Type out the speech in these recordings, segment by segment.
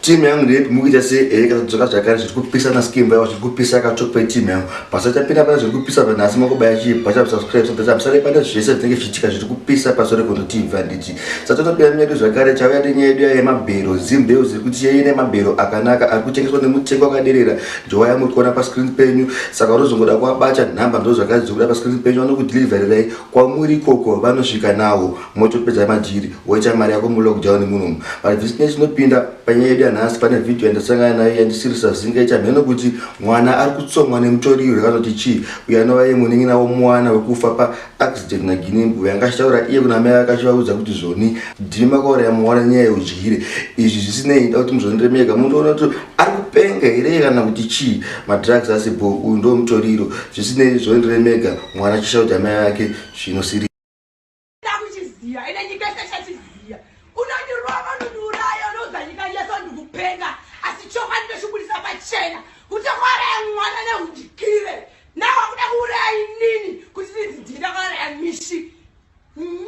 timu yangu ndeyepi mukuita se ehe kana dzoka zvakare zviri kupisa na skin vaiwa zviri kupisa akatsvok pai timu yangu pasachapinda pane zviri kupisa vanhasi makubaya chii pachabsubscribe sabsabsare pane zvese zvinenge zvichiitika zviri kupisa pasore kuno timu vanditi satonopira myedu zvakare chauya nenyaya yedu yaye mabhero zimbeu ziri kuti yeye nemabhero akanaka ari kutengeswa nemutengo akaderera njowa yamuri kuona pascreen penyu saka unozongoda kuabata nhamba ndo zvakadzi zvokuda pascreen penyu vanokudelivererai kwamuri ikoko vanosvika nawo motopedza majiri woita mari yako mulockdown munomu but this ne chinopinda panyaya yedu yanhasi pane vhidhiyo yandasangana nayo yandisirisa zinga ita mheno kuti mwana ari kutsomwa nemutoriro yakanoti chii uyo anova ye munin'ina womwana wekufa paaccident naginimbu yanga achitaura iye kuna mai vake achivaudza kuti zvoni ndimi makauraya mwana nyaya yeudyire izvi zvisinei nda kuti muzondiremeka munoona kuti ari kupenga here kana kuti chii madrugs asi bo uyu ndo mutoriro zvisinei zvondiremeka mwana achisha kuti amai vake zvinosiri Ndakuchiziva ine nyika yese chachiziva. Unondirova unondiuraya unoudza nyika yese ndikupenga asi chokwadi ndochibudisa pachena kuti kwauraya mwana neudikire nawo akuda kuuraya inini kuti ndidzidhinda kwauraya mishi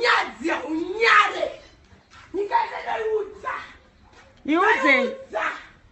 nyadzi unyare nyika yese ndoiudza iudze